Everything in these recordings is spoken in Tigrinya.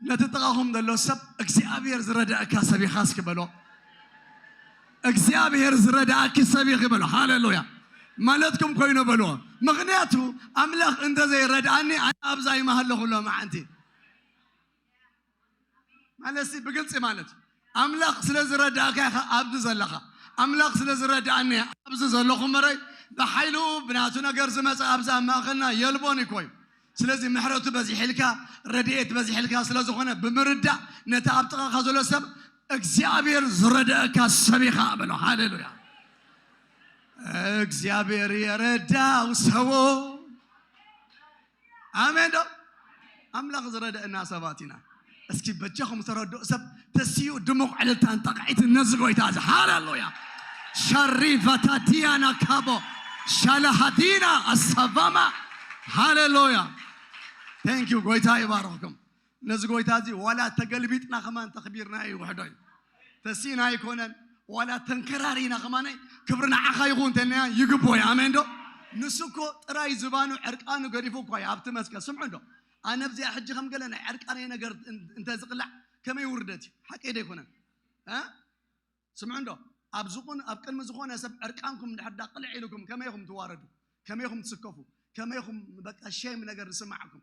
ነቲ ጥቓኹም ዘሎ ሰብ እግዚኣብሔር ዝረዳእካ ሰብ ኢኻ እስኪ በሎ። እግዚኣብሔር ዝረዳእኪ ሰብ ኢኺ በሎ። ሃሌሉያ ማለትኩም ኮይኑ በሎ። ምክንያቱ ኣምላኽ እንተዘይረድኣኒ ኣነ ኣብዛ ይመሃለኹ ሎሚ ዓንቲ ማለትሲ ብግልፂ ማለት እዩ። ኣምላኽ ስለ ዝረድኣካ ኢኻ ኣብዚ ዘለኻ። ኣምላኽ ስለ ዝረድኣኒ እየ ኣብዚ ዘለኹ እምበረይ፣ ብሓይሉ ብናቱ ነገር ዝመጸ ኣብዚ ኣብ ማእከልና የልቦን እኮ እዩ። ስለዚ ምሕረቱ በዚሕልካ፣ ረድኤት በዚሕልካ ስለ ዝኾነ ብምርዳእ ነቲ ኣብ ጥቓኻ ዘሎ ሰብ እግዚኣብሔር ዝረድኣካ ሰብ ኢኻ በሎ። ሃሌሉያ! እግዚኣብሔር የረዳው ሰዎ ኣሜን ዶ ኣምላኽ ዝረደእና ሰባት ኢና እስኪ በጃኹም ዝተረድኡ ሰብ ተስዩ ድሙቕ ዕልልታን ጠቕዒትን ነዚ ጎይታ እዚ ሃለሉያ ሸሪቫታ ዲያና ካቦ ሻላሃዲና ኣሳቫማ ሃለሉያ ቴንክ ዩ ጎይታ ይባርኽኩም ነዚ ጎይታ እዚ ዋላ ተገልቢጥና ከማን ተኽቢርናዮ ይውሕዶ እዩ ተሲእና ኣይኮነን ዋላ ተንከራሪና ከማን ክብሪ ንዓኻ ይኹን እንተልና ይግቦ እዩ ኣሜን ዶ ንሱ እኮ ጥራይ ዝባኑ ዕርቃኑ ገዲፉ እኳ እዩ ኣብቲ መስቀል ስምዑ ዶ ኣነ ብዚኣ ሕጂ ከም ገለ ናይ ዕርቃነይ ነገር እንተዝቕላዕ ከመይ ውርደት እዩ ሓቀይ ዶ ኣይኮነን ስምዑ ዶ ኣብ ዝኹን ኣብ ቅድሚ ዝኾነ ሰብ ዕርቃንኩም ድሕዳ ቅልዕ ኢልኩም ከመይኹም ትዋረዱ ከመይኹም ትስከፉ ከመይኹም በቃ ሸም ነገር ዝስማዕኩም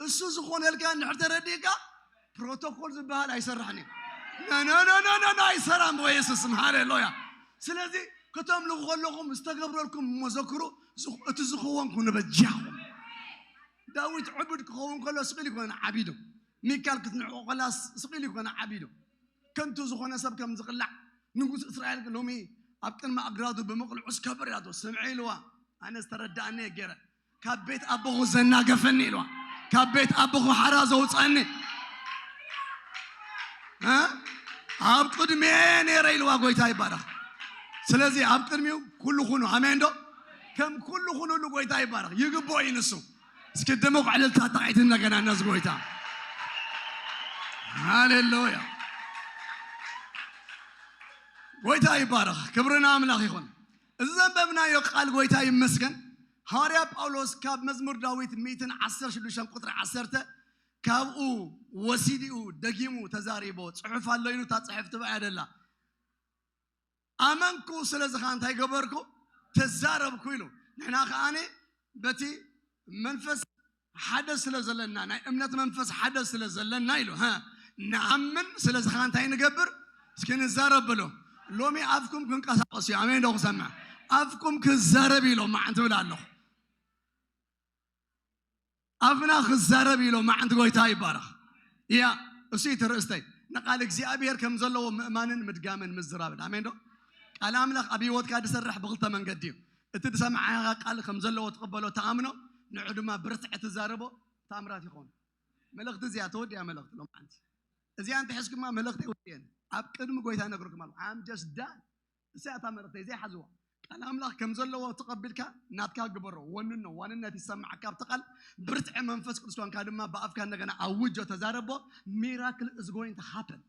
እሱ ዝኾነልካ እንድሕር ተረዲእካ ፕሮቶኮል ዝበሃል ኣይሰራሕን እዩ ነነነነነ ኣይሰራን በየሱስ ስም ሃሌሉያ ስለዚ ከተምልኹ ከለኹም ዝተገብረልኩም እሞ ዘክሩ ዝኽ- እቲ ዝኸውን ኩኑ በጃኹም ዳዊት ዕቡድ ክኸውን ከሎ ስቕል ይኮነ ዓቢዱ ሚካል ክትንዕቆ ከላ ስ- ስቕል ይኮነ ዓቢዱ ከንቱ ዝኾነ ሰብ ከም ዝቕላዕ ንጉስ እስራኤል ሎሚ ኣብ ቅድሚ ኣግራዱ ብምቕልዑስ ከበር ያቶ ስምዐ ኢልዋ ኣነ ዝተረዳእኒ ገይረ ካብ ቤት ኣቦኹ ዘናገፈኒ ኢልዋ ካብ ቤት ኣቦኹ ሓራ ዘውፀኒ ኣብ ቅድሜ ነረ ኢልዋ ጎይታ ይባረኽ ስለዚ ኣብ ቅድሚኡ ኩሉ ኩኑ ኣሜን ዶ ከም ኩሉ ኩኑሉ ጎይታ ይባረኽ ይግቦ እዩ ንሱ እስኪ ድሙቕ ዕልልታ ጣቂት እንደገና ነዚ ጎይታ ሃሌሉያ ጎይታ ይባረኽ ክብሪ ንኣምላኽ ይኹን እዚ ዘንበብናዮ ቃል ጎይታ ይመስገን ሃዋርያ ጳውሎስ ካብ መዝሙር ዳዊት ሚእትን ዓሰርተ ሽዱሽተን ቁጽሪ ዓሰርተ ካብኡ ወሲዲኡ ደጊሙ ተዛሪቦ ጽሑፍ ኣሎ ኢሉ እታ ጽሕፍ ትብኣ እያ ደላ ኣመንኩ ስለዚ ከዓ እንታይ ገበርኩ ተዛረብኩ ኢሉ ንሕና ከዓኒ በቲ መንፈስ ሓደ ስለ ዘለና ናይ እምነት መንፈስ ሓደ ስለ ዘለና ኢሉ ንኣምን ስለዚ ከ እንታይ ንገብር እስኪ ንዛረብ በሎ ሎሚ ኣፍኩም ክንቀሳቀስ እዩ ኣሜን ዶ ክሰምዕ ኣፍኩም ክዛረብ ኢሎ ማዓንቲ ብል ኣለኹ ኣፍና ክዛረብ ኢሎ ማዓንቲ ጎይታ ይባረኽ እያ እሱ እቲ ርእስተይ ንቃል እግዚኣብሔር ከም ዘለዎ ምእማንን ምድጋምን ምዝራብን ኣሜን ዶ ቃል ኣምላኽ ኣብ ህይወትካ ዝሰርሕ ብክልተ መንገዲ እዩ እቲ ዝሰማዓካ ቃል ከም ዘለዎ ትቅበሎ ትኣምኖ ንዑ ድማ ብርትዕ ትዛረቦ ታምራት ይኮን መልእክቲ እዚኣ ተወዲኣ መልእክቲ ሎምዓንቲ እዚኣ እንተ ሕዝክማ መልእክተይ ወዲኤን ኣብ ቅድሚ ጎይታ ነግረኩም ኣለኩ I'm just done እሳ እታ መልእክተይ ዘይሓዝዋ ቃል ኣምላኽ ከም ዘለዎ ተቀቢልካ ናትካ ግበሮ ወንኖ ዋንነት ይሰማዓካ ኣብቲ ቃል ብርትዕ መንፈስ ቅዱስ ኮንካ ድማ ብኣፍካ እንደገና ኣውጆ ተዛረቦ ሚራክል is going to happen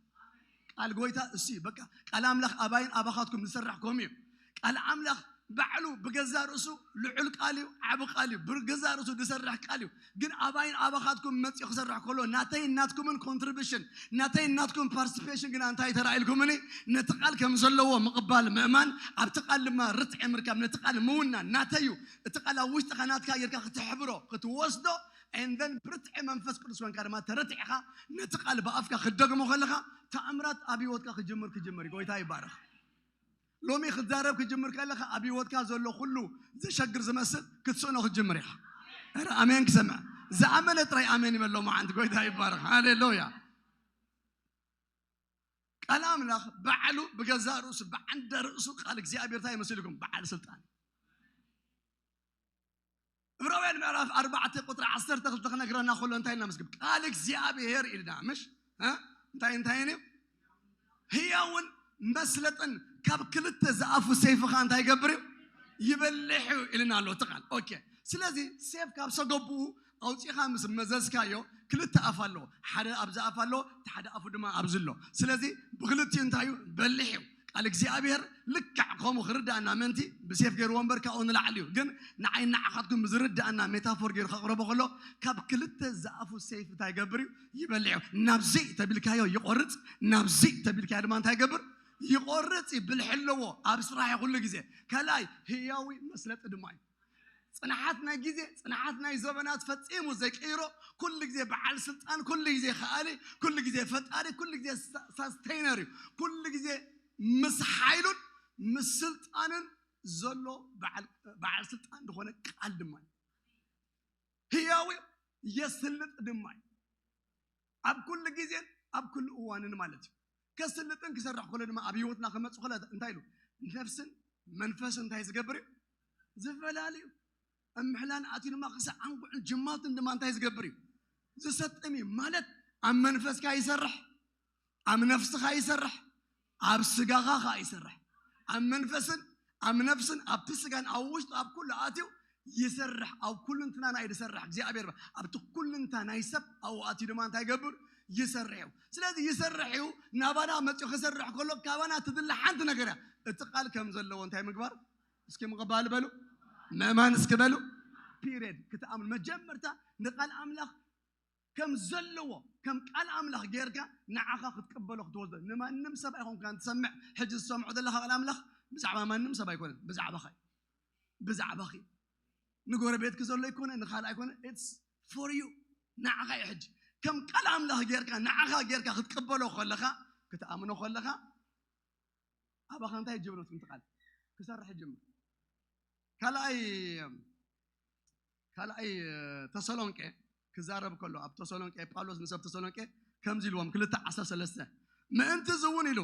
ቃል ጎይታ እሱዩ በቃ ቃል ኣምላኽ ኣባይን ኣባኻትኩም ዝሰርሕ ከምኡ እዩ ቃል ኣምላኽ ባዕሉ ብገዛ ርእሱ ልዑል ቃል እዩ ዓብ ቃል እዩ ብገዛ ርእሱ ዝሰርሕ ቃል እዩ ግን ኣባይን ኣባኻትኩም መፅኡ ክሰርሕ ከሎ ናተይ ናትኩምን ኮንትሪቢሽን ናተይ ናትኩም ፓርቲሲፔሽን ግና እንታይ ተራኢልኩምኒ ነቲ ቃል ከም ዘለዎ ምቕባል ምእማን ኣብቲ ቃል ድማ ርትዒ ምርካብ ነቲ ቃል ምውናን ናተይ እዩ እቲ ቃል ኣብ ውሽጥኻ ናትካ ጌርካ ክትሕብሮ ክትወስዶ and then ብርትዒ መንፈስ ቅዱስ ኮንካ ድማ ተረቲዕኻ ነቲ ቃል ብኣፍካ ክትደግሞ ከለኻ ተኣምራት ኣብ ህይወትካ ክጅምር ክጅምር እዩ። ጎይታ ይባረኽ። ሎሚ ክትዛረብ ክጅምር ከለኻ ኣብ ህይወትካ ዘሎ ኩሉ ዘሸግር ዝመስል ክትስእኖ ክትጅምር ኢኻ። ኧረ ኣሜን ክሰምዕ ዝኣመነ ጥራይ ኣሜን ይበሎ መዓንቲ ጎይታ ይባረኽ። ሃሌሉያ ቃል ኣምላኽ ባዕሉ ብገዛ ርእሱ ብዓንደ ርእሱ ቃል እግዚኣብሔር እንታይ ይመስልኩም በዓል ስልጣን ዕብራውያን ምዕራፍ ኣርባዕተ ቁጥሪ ዓሰርተ ክልተ ክነግረና ከሎ እንታይ እናመስግብ ቃል እግዚኣብሄር ኢልና ምሽ እ? እንታይ እንታይን እዩ ህያውን መስለጥን ካብ ክልተ ዝኣፉ ሴፍ ኸ እንታይ ይገብር እዩ ይበልሕ እዩ ኢልና ኣሎ እቲ ቃል ኦኬ ስለዚ ሴፍ ካብ ሰገቡኡ ኣውፂኻ ምስ መዘዝካዮ ክልተ ኣፍ ኣለዎ ሓደ ኣብዚ ኣፍ ኣለዎ እቲ ሓደ ኣፉ ድማ ኣብዚ ኣሎ ስለዚ ብክልቲኡ እንታይ እዩ በልሕ እዩ ቃል እግዚኣብሔር ልክዕ ከምኡ ክርዳእና ምእንቲ ብሴፍ ገይርዎ እምበር ካብኡ ንላዕሊ እዩ ግን ንዓይ ንዓኻትኩም ብዝርዳእና ሜታፎር ገይሩ ከቕረቦ ከሎ ካብ ክልተ ዝኣፉ ሴፍ እንታይ ይገብር እዩ ይበልዕ እዩ ናብዚ ተቢልካዮ ይቆርፅ ናብዚ ተቢልካዮ ድማ እንታይ ይገብር ይቆርፅ እዩ ብልሒ ኣለዎ ኣብ ስራሕ ኩሉ ግዜ ከላይ ህያዊ መስለጢ ድማ እዩ ጽንዓት ናይ ግዜ ጽንዓት ናይ ዘበናት ፈጺሙ ዘይቅይሮ ኩሉ ግዜ በዓል ስልጣን ኩሉ ግዜ ከኣሊ ኩሉ ግዜ ፈጣሪ ኩሉ ግዜ ሳስተይነር እዩ ኩሉ ግዜ ምስ ሓይሉን ምስ ስልጣንን ዘሎ በዓል ስልጣን ዝኾነ ቃል ድማ እዩ ህያው እዩ የስልጥ ድማ እዩ ኣብ ኩሉ ግዜን ኣብ ኩሉ እዋንን ማለት እዩ። ከስልጥን ክሰርሕ ከሎ ድማ ኣብ ህይወትና ክመጽእ ከሎ እንታይ ኢሉ ነፍስን መንፈስን እንታይ ዝገብር እዩ ዝፈላልዩ እምሕላን ኣትዩ ድማ ክሳዕ ዓንጉዕን ጅማትን ድማ እንታይ ዝገብር እዩ ዝሰጥም እዩ ማለት ኣብ መንፈስካ ይሰርሕ ኣብ ነፍስኻ ይሰርሕ ኣብ ስጋኻ ኸኣ ይሰርሕ። ኣብ መንፈስን ኣብ ነፍስን ኣብቲ ስጋን ኣብ ውሽጥ ኣብ ኩሉ ኣትዩ ይሰርሕ ኣብ ኩሉንትናና እዩ ዝሰርሕ እግዚኣብሔር ኣብቲ ኩሉንታ ናይ ሰብ ኣብኡ ኣትዩ ድማ እንታይ ይገብር ይሰርሕ እዩ ስለዚ ይሰርሕ እዩ ናባና መፅኡ ክሰርሕ ከሎ ካባና ትድለ ሓንቲ ነገር እያ እቲ ቃል ከም ዘለዎ እንታይ ምግባር እስኪ ምቕባል በሉ ምእማን እስኪ በሉ ፒሪድ ክትኣምኑ መጀመርታ ንቃል ኣምላኽ ከም ዘለዎ ከም ቃል ኣምላኽ ጌርካ ንዓኻ ክትቅበሎ ክትወስዶ ንማንም ሰብ ኣይኮንካን ትሰምዕ ሕጂ ዝሰምዖ ዘለኻ ቃል ኣምላኽ ብዛዕባ ማንም ሰብ ኣይኮነን ብዛዕባኻ እዩ ብዛዕባኺ ንጎረቤትኪ ዘሎ ኣይኮነ ንካልእ ኣይኮነ ኢትስ ፎር ዩ ንዓኻ እዩ ሕጂ ከም ቃል ኣምላኽ ጌርካ ንዓኻ ጌርካ ክትቅበሎ ከለኻ ክትኣምኖ ከለኻ ኣባኻ እንታይ ጀብረት ምትቃል ክሰርሕ ጅምር ካልኣይ ካልኣይ ተሰሎንቄ ክዛረብ ከሎ ኣብ ተሰሎንቄ ጳውሎስ ንሰብ ተሰሎንቄ ከምዚ ኢልዎም ክልተ ዓሰርተ ሰለስተ ምእንቲ እዚ እውን ኢሉ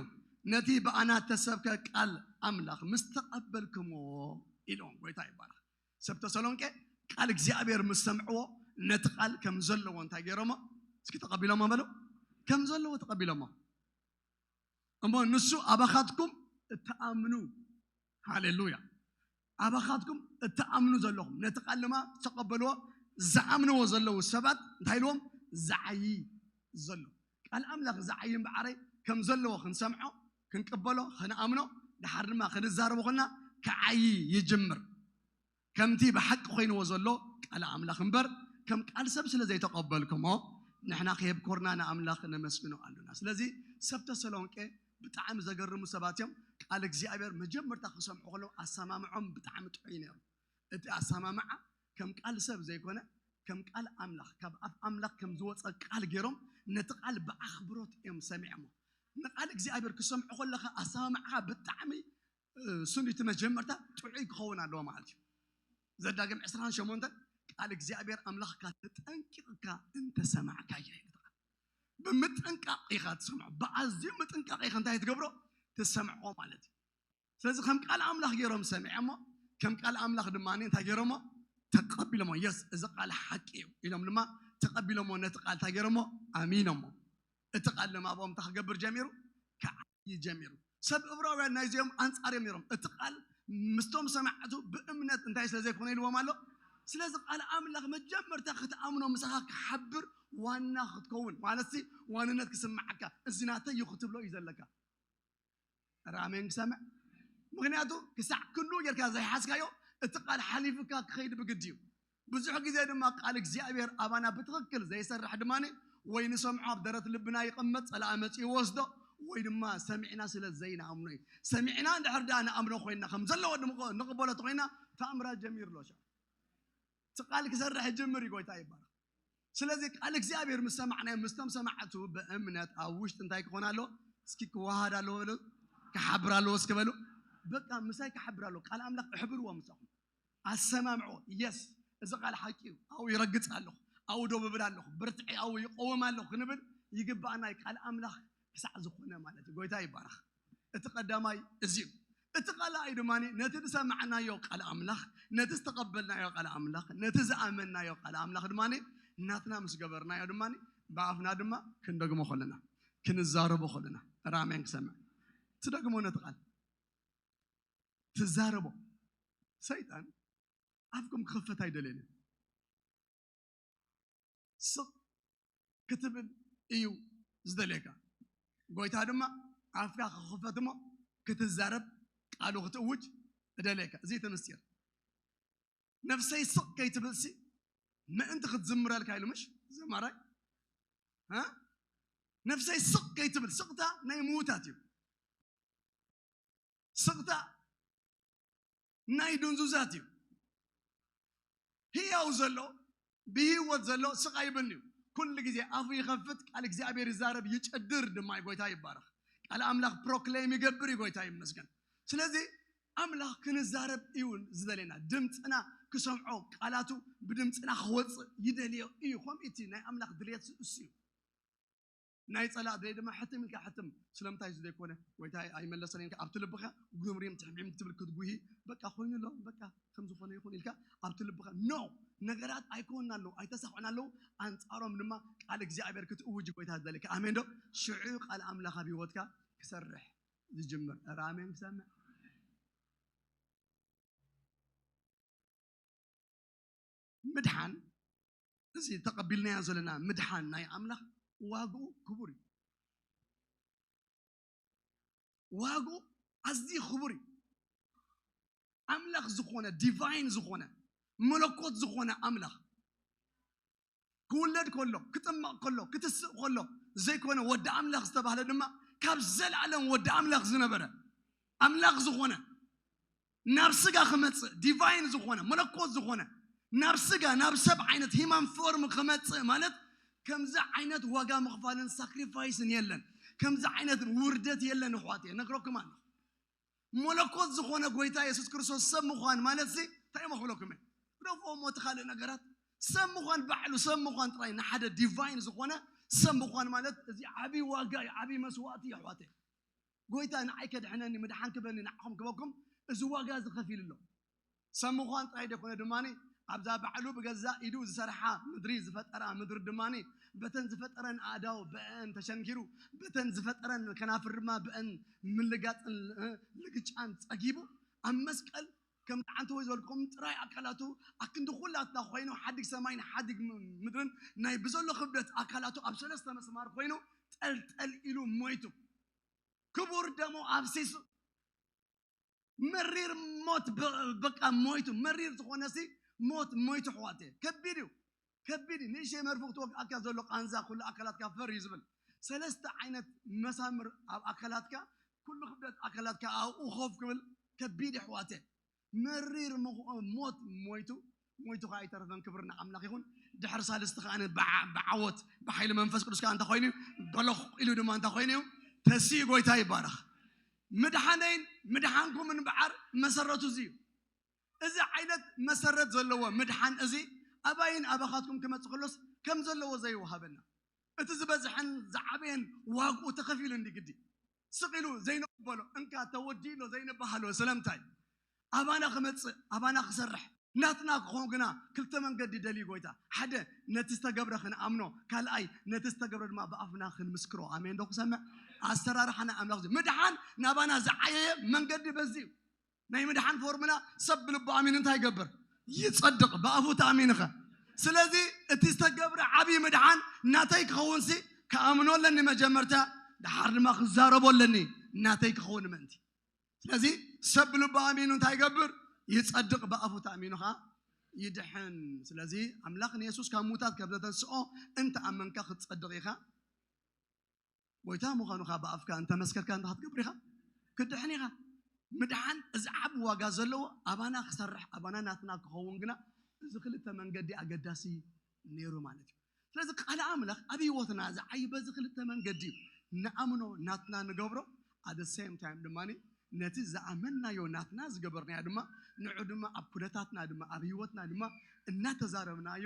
ነቲ ብኣና ተሰብከ ቃል ኣምላኽ ምስ ተቐበልክምዎ ኢልዎም ጎይታ ይባረኽ ሰብ ተሰሎንቄ ቃል እግዚኣብሔር ምስ ሰምዕዎ ነቲ ቃል ከም ዘለዎ እንታይ ገይሮሞ እስኪ ተቐቢሎሞ በሉ ከም ዘለዎ ተቐቢሎሞ እሞ ንሱ ኣባኻትኩም እትኣምኑ ሃሌሉያ ኣባኻትኩም እትኣምኑ ዘለኹም ነቲ ቃል ድማ ዝተቐበልዎ ዝኣምንዎ ዘለዉ ሰባት እንታይ ኢልዎም ዝዓይ ዘሎ ቃል ኣምላኽ ዝዓይ እምበዓረይ ከም ዘለዎ ክንሰምዖ ክንቅበሎ ክንኣምኖ ድሓር ድማ ክንዛረቦ ኮልና ክዓይ ይጅምር ከምቲ ብሓቂ ኮይንዎ ዘሎ ቃል ኣምላኽ እምበር ከም ቃል ሰብ ስለ ዘይተቀበልክሞ ንሕና ከየብኮርና ንኣምላኽ ነመስግኖ ኣሎና። ስለዚ ሰብ ተሰሎንቄ ብጣዕሚ ዘገርሙ ሰባት እዮም። ቃል እግዚኣብሔር መጀመርታ ክሰምዑ ከለዉ ኣሰማምዖም ብጣዕሚ ጥዑይ ነይሩ። እቲ ኣሰማምዓ ከም ቃል ሰብ ዘይኮነ ከም ቃል ኣምላኽ ካብ ኣፍ ኣምላኽ ከም ዝወጸ ቃል ገይሮም ነቲ ቃል ብኣኽብሮት እዮም ሰሚዕሞ። ንቃል እግዚኣብሔር ክሰምዑ ከለኻ ኣሰማምዓኻ ብጣዕሚ ስም እቲ መጀመርታ ጥዑይ ክኸውን ኣለዎ ማለት እዩ ዘዳግም 28 ቃል እግዚኣብሔር ኣምላኽካ ተጠንቂቕካ እንተሰማዕካዮ ብምጥንቃቕ ኢኻ ትሰምዖ ብኣዝዩ ምጥንቃቕ ኢኻ እንታይ ትገብሮ ትሰምዖ ማለት እዩ ስለዚ ከም ቃል ኣምላኽ ገይሮም ሰሚዐሞ ከም ቃል ኣምላኽ ድማ እንታይ ገይሮሞ ተቀቢሎሞ የስ እዚ ቃል ሓቂ እዩ ኢሎም ድማ ተቀቢሎሞ ነቲ ቃል እንታይ ገይሮሞ ኣሚኖሞ እቲ ቃል ድማ ኣብኦም እንታይ ክገብር ጀሚሩ እዩ ጀሚሩ። ሰብ እብራውያን ናይዚኦም ኣንጻር እዮም ነይሮም። እቲ ቃል ምስቶም ሰማዕቱ ብእምነት እንታይ ስለ ዘይኮነ ኢልዎም ኣሎ። ስለዚ ቃል ኣምላኽ መጀመርታ ክትኣምኖ ምሳኻ ክሓብር ዋና ክትከውን ማለት ሲ ዋንነት ክስምዓካ እዚ ናተይ እዩ ክትብሎ እዩ ዘለካ ራሜን ክሰምዕ ምክንያቱ ክሳዕ ክሉ ጌርካ ዘይሓዝካዮ እቲ ቃል ሓሊፍካ ክኸይድ ብግዲ እዩ ብዙሕ ግዜ ድማ ቃል እግዚኣብሔር ኣባና ብትኽክል ዘይሰርሕ ድማ ወይ ንሰምዖ ኣብ ደረት ልብና ይቕመጥ ጸላኢ መጺኡ ይወስዶ ወይ ድማ ሰሚዕና ስለ ዘይንኣምኖ እዩ። ሰሚዕና እንድሕር ደኣ ንኣምኖ ኮይና ከም ዘለዎ ንቕበሎ ተኾይና ተኣምራት ጀሚሩ ኣሎ ሻዕ እቲ ቃል ክሰርሕ ይጅምር እዩ ጎይታ ይባረኽ። ስለዚ ቃል እግዚኣብሔር ምስ ሰማዕናዮ ምስቶም ሰማዕቱ ብእምነት ኣብ ውሽጢ እንታይ ክኾን ኣለዎ እስኪ ክወሃድ ኣለዎ በሉ ክሓብር ኣለዎ እስኪ በሉ በቃ ምሳይ ክሓብር ኣለዎ ቃል ኣምላኽ እሕብርዎ ምሳኹም ኣሰማምዕዎ የስ እዚ ቃል ሓቂ እዩ ኣው ይረግፅ ኣለኹ ኣው ዶ ብብል ኣለኹ ብርትዐ ኣው ይቆወም ኣለኹ ክንብል ይግባኣና እዩ ቃል ኣምላኽ ክሳዕ ዝኾነ ማለት እዩ ጎይታ ይባረኽ እቲ ቀዳማይ እዚ እዩ እቲ ቃልኣይ ድማ ነቲ ዝሰማዕናዮ ቃል ኣምላኽ ነቲ ዝተቐበልናዮ ቃል ኣምላኽ ነቲ ዝኣመናዮ ቃል ኣምላኽ ድማ ናትና ምስ ገበርናዮ ድማ ብኣፍና ድማ ክንደግሞ ከለና ክንዛረቦ ከለና ራሜን ክሰምዕ ትደግሞ ነቲ ቃል ትዛረቦ ሰይጣን ኣፍኩም ክኸፈት ኣይደልን እዩ ስቕ ክትብል እዩ ዝደልየካ ጎይታ ድማ ኣፍካ ክኽፈት እሞ ክትዛረብ ቃሉ ክትእውጅ እደልየካ እዚ እቲ ምስጢር ነፍሰይ ስቕ ከይትብልሲ ምእንቲ ክትዝምረልካ ኢሉ ምሽ ዘማራይ እ? ነፍሰይ ስቕ ከይትብል ስቕታ ናይ ምዉታት እዩ ስቕታ ናይ ድንዙዛት እዩ ህያው ዘሎ ብህይወት ዘሎ ስቕ ኣይብን እዩ ኩሉ ግዜ ኣፉ ይኸፍት ቃል እግዚኣብሔር ይዛረብ ይጨድር ድማ እዩ ጎይታ ይባረኽ ቃል ኣምላኽ ፕሮክሌም ይገብር እዩ ጎይታ ይመስገን ስለዚ ኣምላኽ ክንዛረብ እዩ ዝደልየና ድምፅና ክሰምዖ ቃላቱ ብድምፅና ክወፅእ ይደልዮ እዩ ከምኡ እቲ ናይ ኣምላኽ ድልየት እሱ እዩ ናይ ጸላእ ደይ ድማ ሕትም ኢልካ ሕትም ስለምንታይ እዚ ዘይኮነ ጎይታይ ኣይመለሰን ኢልካ ኣብቲ ልብኻ ጉምሪም ትሕምዒም ትብል ክትጉሂ በቃ ኮይኑ ኣሎ በቃ ከም ዝኾነ ይኹን ኢልካ ኣብቲ ልብኻ ኖ ነገራት ኣይኮና ኣለዉ ኣይተሳኽዑን ኣለዉ ኣንጻሮም ድማ ቃል እግዚኣብሔር ክትእውጅ ጎይታ ዝደልካ ኣሜን ዶ ሽዑ ቃል ኣምላኽ ኣብ ህይወትካ ክሰርሕ ዝጅምር ኧረ ኣሜን ክሰምዕ ምድሓን እዚ ተቐቢልናዮ ዘለና ምድሓን ናይ ኣምላኽ ዋግኡ ክቡር እዩ ዋግኡ ኣዝዩ ክቡር እዩ ኣምላኽ ዝኾነ ዲቫይን ዝኾነ መለኮት ዝኾነ ኣምላኽ ክውለድ ከሎ፣ ክጥመቕ ከሎ፣ ክትስእ ከሎ ዘይኮነ ወዲ ኣምላኽ ዝተባህለ ድማ ካብ ዘለኣለም ወዲ ኣምላኽ ዝነበረ ኣምላኽ ዝኾነ ናብ ስጋ ክመጽእ ዲቫይን ዝኾነ መለኮት ዝኾነ ናብ ስጋ ናብ ሰብ ዓይነት ሂማን ፎርም ክመጽእ ማለት ከምዚ ዓይነት ዋጋ ምኽፋልን ሳክሪፋይስን የለን ከምዚ ዓይነት ውርደት የለን ኣሕዋት እየ ነግረኩም ኣለኹ መለኮት ዝኾነ ጎይታ የሱስ ክርስቶስ ሰብ ምዃን ማለት ሲ እንታይ እሞ ክብለኩም እየ ግደፎ እሞ እቲ ካልእ ነገራት ሰብ ምዃን ባዕሉ ሰብ ምዃን ጥራይ ንሓደ ዲቫይን ዝኾነ ሰብ ምዃን ማለት እዚ ዓብዪ ዋጋ እዩ ዓብዪ መስዋእቲ እዩ ኣሕዋተይ ጎይታ ንዓይ ከድሕነኒ ምድሓን ክበኒ ንዓኹም ክበኩም እዚ ዋጋ እዚ ከፊሉ ኣሎ ሰብ ምዃን ጥራይ ዘይኮነ ድማ ኣብዛ ባዕሉ ብገዛእ ኢዱ ዝሰርሓ ምድሪ ዝፈጠራ ምድሪ ድማ በተን ዝፈጠረን ኣእዳው ብአን ተሸንኪሩ በተን ዝፈጠረን ከናፍር ድማ ብአን ምልጋፅን እ፣ ልግጫን ፀጊቡ ኣብ መስቀል ከም ዳዓንተ ወይ ዝበልኩም ጥራይ ኣካላቱ ኣክንዲ ኩላትና ኮይኑ ሓዲግ ሰማይን ሓዲግ ም- ምድርን ናይ ብዘሎ ክብደት ኣካላቱ ኣብ ሰለስተ መስማር ኮይኑ ጠልጠል ኢሉ ሞይቱ ክቡር ደሙ ኣፍሲሱ መሪር ሞት በቃ ሞይቱ መሪር ዝኾነ ሲ ሞት ሞይቱ ሕዋት ከቢድ እዩ ከቢድ እዩ ንእሸ መርፉ ክትወግኣካ ዘሎ ቃንዛ ኩሉ ኣካላትካ ፈር እዩ ዝብል ሰለስተ ዓይነት መሳምር ኣብ ኣካላትካ ኩሉ ክብደት ኣካላትካ ኣብኡ ኮፍ ክብል ከቢድ እዩ ሕዋት መሪር ሞት ሞይቱ ሞይቱ ከኣ ኣይተረፈን ክብሪ ንኣምላኽ ይኹን ድሕሪ ሳልስቲ ከኣ ብዓወት ብሓይሊ መንፈስ ቅዱስ ከኣ እንታይ ኮይኑ እዩ በለኹ ኢሉ ድማ እንታይ ኮይኑ እዩ ተሲኡ ጎይታ ይባረኽ ምድሓነይን ምድሓንኩም እንበዓር መሰረቱ እዚ እዩ እዚ ዓይነት መሰረት ዘለዎ ምድሓን እዚ ኣባይን ኣባኻትኩም ክመፅእ ከሎስ ከም ዘለዎ ዘይወሃበና እቲ ዝበዝሐን ዝዓበየን ዋግኡ ተኸፊሉ እንዲ ግዲ ስቕ ኢሉ ዘይንቕበሎ እንካ ተወዲኡሎ ዘይንበሃሎ ስለምንታይ? ኣባና ክመጽእ ኣባና ክሰርሕ ናትና ክኾን ግና ክልተ መንገዲ ደልዩ ጎይታ ሓደ ነቲ ዝተገብረ ክንኣምኖ ካልኣይ ነቲ ዝተገብረ ድማ ብኣፍና ክንምስክሮ ኣሜንዶ ክሰምዕ ኣሰራርሓ ናይ ኣምላኽ እዚ ምድሓን ናባና ዝዓየየ መንገዲ በዚ እዩ ናይ ምድሓን ፎርሙላ ሰብ ብልቡ ኣሚኑ እንታይ ይገብር? ይጸድቕ። ብኣፉ ተኣሚንኸ? ስለዚ እቲ ዝተገብረ ዓብዪ ምድሓን ናተይ ክኸውንሲ ክኣምኖ ኣለኒ መጀመርታ፣ ደሓር ድማ ክዛረቦ ኣለኒ ናተይ ክኸውን ምእንቲ። ስለዚ ሰብ ብልቡ ኣሚኑ እንታይ ይገብር? ይጸድቕ። ብኣፉ ተኣሚኑ ኸኣ ይድሕን። ስለዚ ኣምላኽ ንየሱስ ካብ ምዉታት ከም ዘተንስኦ እንተ ኣመንካ ክትጸድቕ ኢኻ። ጎይታ ምዃኑ ከኣ ብኣፍካ እንተ መስከርካ እንታይ ክትገብር ኢኻ? ክትድሕን ኢኻ። ምድሓን እዚ ዓቢ ዋጋ ዘለዎ ኣባና ክሰርሕ ኣባና ናትና ክኸውን ግና እዚ ክልተ መንገዲ ኣገዳሲ ነይሩ ማለት እዩ። ስለዚ ቃል ኣምላኽ ኣብ ህይወትና ዝዓይ በዚ ክልተ መንገዲ እዩ። ንኣምኖ ናትና ንገብሮ at the same time ድማ ነቲ ዝኣመናዮ ናትና ዝገበርናዮ ድማ ንዑ ድማ ኣብ ኩነታትና ድማ ኣብ ህይወትና ድማ እናተዛረብናዮ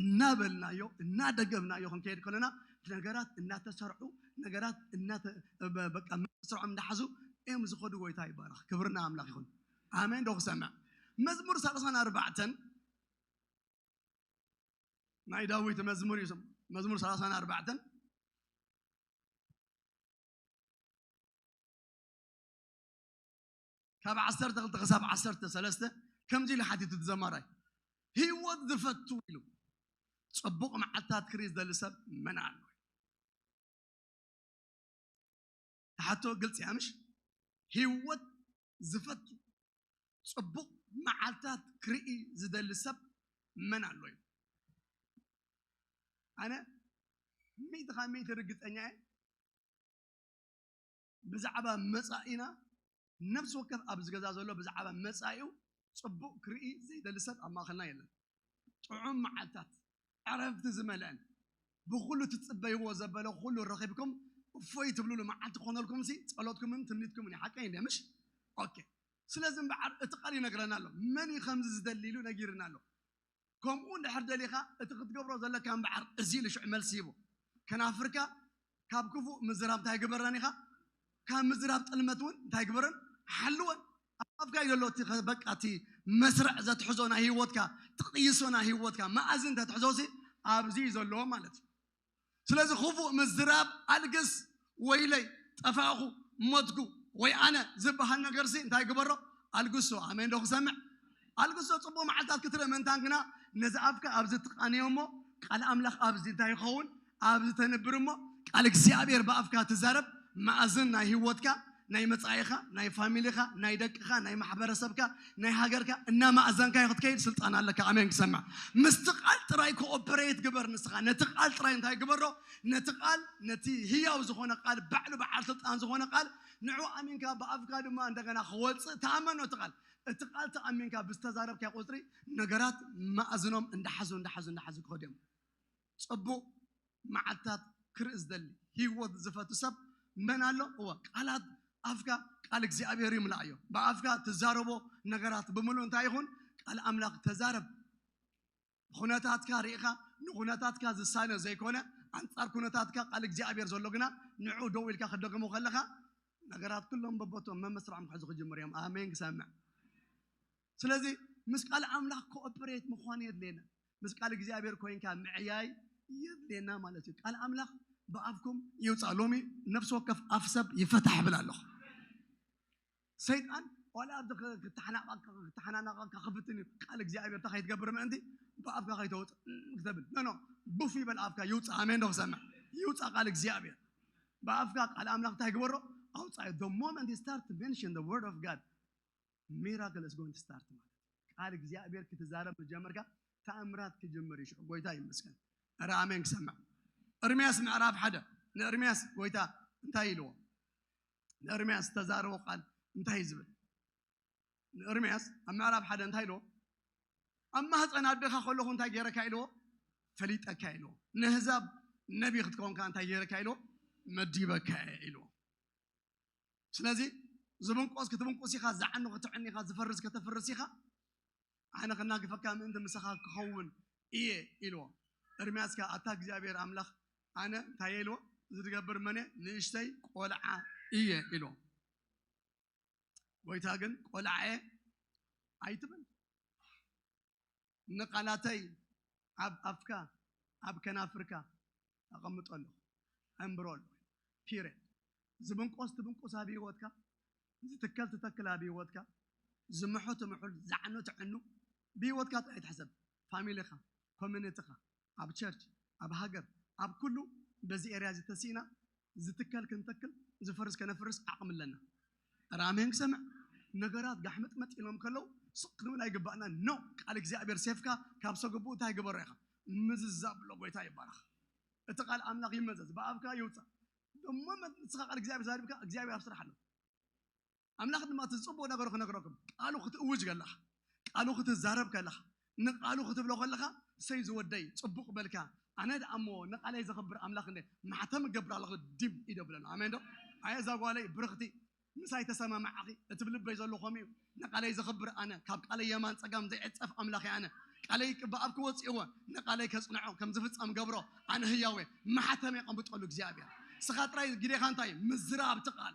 እናበልናዮ እናደገምናዮ ክንከይድ ከሎና ነገራት እናተሰርዑ ነገራት እናተ በ- በቃ መስርዖም እናሓዙ እዮም ዝኸዱ ጎይታ ይባረኽ ክብሪ ንኣምላኽ ይኹን ኣሜን ዶ ክሰምዕ መዝሙር ሳልሳን ኣርባዕተን ናይ ዳዊት መዝሙር እዩ ስም- መዝሙር ሳልሳን ኣርባዕተን ካብ ዓሰርተ ክልተ ክሳብ ዓሰርተ ሰለስተ ከምዚ ኢሉ ሓቲቱ እቲ ዘማራይ ህይወት ዝፈቱ ኢሉ ጽቡቕ መዓልታት ክርኢ ዝደሊ ሰብ መን ኣሎ ትሓቶ ግልፂ እያ ምሽ ህይወት ዝፈቱ ጽቡቕ መዓልታት ክርኢ ዝደሊ ሰብ መን ኣሎ እዩ ኣነ ሚእቲ ካብ ሚእቲ ርግፀኛ እየ ብዛዕባ መጻኢና ነፍሲ ወከፍ ኣብዚ ገዛ ዘሎ ብዛዕባ መጻኢኡ ጽቡቕ ክርኢ ዘይደሊ ሰብ ኣብ ማእኸልና የለን። ጥዑም መዓልታት ዕረፍቲ ዝመልአን ብኹሉ ትጽበይዎ ዘበለ ኩሉ ረኺብኩም እፎይ ትብሉሉ መዓልቲ ክኾነልኩም ሲ ጸሎትኩምን ትምኒትኩምን ሓቀይ እንደ ምሽ ኦኬ ስለዚ እምበዓር እቲ ቃል ይነግረና ኣሎ መን እዩ ከምዚ ዝደሊ ኢሉ ነጊርና ኣሎ ከምኡ እንድሕር ደሊኻ እቲ ክትገብሮ ዘለካ እምበዓር እዚ ኢሉ ሽዑ መልሲ ሂቡ። ከናፍርካ ካብ ክፉእ ምዝራብ እንታይ ግበረን ኢኻ? ካብ ምዝራብ ጥልመት እውን እንታይ ግበረን? ሓልወን። ኣብ ኣፍካ እዩ ዘሎ እቲ ከ- በቃ እቲ መስርዕ ዘትሕዞ ናይ ህይወትካ ትቕይሶ ናይ ህይወትካ መኣዝን ተትሕዞሲ ኣብዚ እዩ ዘለዎ ማለት እዩ። ስለዚ ክፉእ ምዝራብ ኣልግስ፣ ወይለይ፣ ጠፋእኹ፣ ሞትኩ፣ ወይ ኣነ ዝበሃል ነገርሲ እንታይ ግበሮ? ኣልግሶ። ኣሜን ዶ ክሰምዕ? ኣልግሶ። ጽቡቕ መዓልታት ክትርኢ ምእንታን ግና ነዚ ኣፍካ ኣብዚ ትቃንዮ እሞ ቃል ኣምላኽ ኣብዚ እንታይ ይኸውን? ኣብዚ ተንብር እሞ ቃል እግዚኣብሔር ብኣፍካ ትዛረብ፣ መኣዝን ናይ ህይወትካ ናይ መጻኢኻ፣ ናይ ፋሚሊኻ፣ ናይ ደቅኻ፣ ናይ ማሕበረሰብካ፣ ናይ ሃገርካ እናማእዘንካዮ ክትከይድ ስልጣን ኣለካ። ኣሜን ክሰምዕ። ምስቲ ቃል ጥራይ ኮኦፐሬት ግበር ንስኻ። ነቲ ቃል ጥራይ እንታይ ግበሮ? ነቲ ቃል ነቲ ህያው ዝኾነ ቃል ባዕሉ በዓል ስልጣን ዝኾነ ቃል ንዑ ኣሚንካ ብኣፍካ ድማ እንደገና ክወጽእ ተኣመኖ እቲ ቃል እቲ ቃል ተኣሚንካ ብዝተዛረብካዮ ቁጽሪ ነገራት ማእዝኖም እንዳሓዙ እንዳሓዙ እንዳሓዙ ክኸዱ እዮም። ጽቡቅ መዓልትታት ክርኢ ዝደሊ ሂወት ዝፈቱ ሰብ መን ኣሎ እወ ቃላት ኣፍካ ቃል እግዚኣብሔር ይምላእዮ ብኣፍካ ትዛረቦ ነገራት ብምሉእ እንታይ ይኹን ቃል ኣምላኽ ተዛረብ ኩነታትካ ርኢኻ ንኩነታትካ ዝሳነ ዘይኮነ ኣንጻር ኩነታትካ ቃል እግዚኣብሔር ዘሎ ግና ንዑ ደው ኢልካ ክደግሞ ከለኻ ነገራት ኩሎም በቦቶም መመስርዖም ክሕዙ ክጅምር እዮም ኣሜን ክሰምዕ ስለዚ ምስ ቃል ኣምላኽ ኮኦፐሬት ምዃን የድልየና። ምስ ቃል እግዚኣብሔር ኮይንካ ምዕያይ የድልየና ማለት እዩ። ቃል ኣምላኽ ብኣፍኩም ይውፃእ። ሎሚ ነፍሲ ወከፍ ኣፍ ሰብ ይፈታሕ ይብል ኣለኹ። ሰይጣን ዋላ ኣብዚ ክተሓናናቐካ ክፍትን እዩ ቃል እግዚኣብሔር እንታይ ከይትገብር ምእንቲ ብኣፍካ ከይተውፅእ ክተብል ኖ ቡፍ ይበል ኣፍካ ይውፃእ ኣሜን ዶ ክሰምዕ ይውፃእ ቃል እግዚኣብሔር ብኣፍካ ቃል ኣምላኽ እንታይ ግበሮ ኣውፃኢ ዶ ሞመንት ስታርት ሜንሽን ደ ወርድ ኦፍ ጋድ Miracle is going to start ማለት ቃል እግዚኣብሔር ክትዛረብ ምጀመርካ ተኣምራት ክጅምር ይሽዑ ጎይታ ይመስገን ረ ኣሜን ክሰምዕ እርምያስ ምዕራፍ ሓደ ንእርምያስ ጎይታ እንታይ ኢልዎ ንእርምያስ ዝተዛረቦ ቃል እንታይ ዝብል ንእርምያስ ኣብ ምዕራፍ ሓደ እንታይ ኢልዎ ኣብ ማህፀን ኣደኻ ከለኹ እንታይ ገይረካ ኢልዎ ፈሊጠካ ኢልዎ ንህዛብ ነቢ ክትከውንካ እንታይ ገይረካ ኢልዎ መዲበካ ኢልዎ ስለዚ ዝብንቆስ ክትብንቁስ ኢኻ፣ ዝዓኑ ክትዕኑ ኢኻ፣ ዝፈርስ ከተፍርስ ኢኻ፣ ኣነ ከናግፈካ ምእንቲ ምሳኻ ክኸውን እየ ኢልዎ። ኤርምያስ ከኣ ኣታ እግዚኣብሄር ኣምላኽ ኣነ እንታይ እየ ኢልዎ፣ እዚ ዝገብር መን እየ? ንእሽተይ ቆልዓ እየ ኢልዎ። ጎይታ ግን ቆልዓ እየ ኣይትበል፣ ንቃላተይ ኣብ ኣፍካ ኣብ ከናፍርካ ኣቐምጦ ኣለኹ ኣንብሮ ኣለኹ period ዝብንቆስ ትብንቁስ ኣብ ሂወትካ ዝትከል ትተክል ኣብ ሂወትካ ዝምሑ ትምሑል ዝዕኑ ትዕኑ ብሂወትካ ጥራይ ትሕሰብ ፋሚሊኻ ኮሚኒቲኻ ኣብ ቸርች ኣብ ሃገር ኣብ ኩሉ በዚ ኤርያ እዚ ተሲእና ዝትከል ክንተክል ዝፈርስ ከነፍርስ ዓቕሚ ኣለና። እረ ኣሜን ክሰምዕ ነገራት ጋሕመጥመጥ ኢሎም ከለው ስቕ ክንብል ኣይግባእናን ኖ ቃል እግዚኣብሔር ሴፍካ ካብ ሰገቡኡ እንታይ ግበሮ ኢኻ ምዝዛብ ኣሎ ጎይታ ይባረኽ እቲ ቃል ኣምላኽ ይመዘዝ ብኣፍካ ይውፃእ ደሞ ንስኻ ቃል እግዚኣብሔር ዛሪብካ እግዚኣብሔር ኣብ ስራሕ ኣሎ ኣምላኽ ድማ እቲ ዝጽቡቕ ነገሩ ክነግረኩም ቃሉ ክትእውጅ ከለኻ ቃሉ ክትዛረብ ከለኻ ንቃሉ ክትብሎ ከለኻ ሰይ ዝወደይ ጽቡቕ በልካ ኣነ ደኣ እሞ ንቃለይ ዘኽብር ኣምላኽ እንደ ማሕተም እገብር ኣለኹ ዲም ኢደ ብለሉ ኣሜን ዶ ኣየ እዛ ጓለይ ብርኽቲ ምሳይ ተሰማማዕኺ እቲ ብልበይ ዘሎ ከምኡ እዩ ንቃለይ ዘኽብር ኣነ ካብ ቃለይ የማን ጸጋም ዘይዕጸፍ ኣምላኽ ኣነ ቃለይ ብኣብ ክወጽእዎ ንቃለይ ከጽንዖ ከም ዝፍጸም ገብሮ ኣነ ህያወ ማሕተም የቐምብጠሉ እግዚኣብሔር ስኻ ጥራይ ግዴኻ እንታይ ምዝራብ ትቃል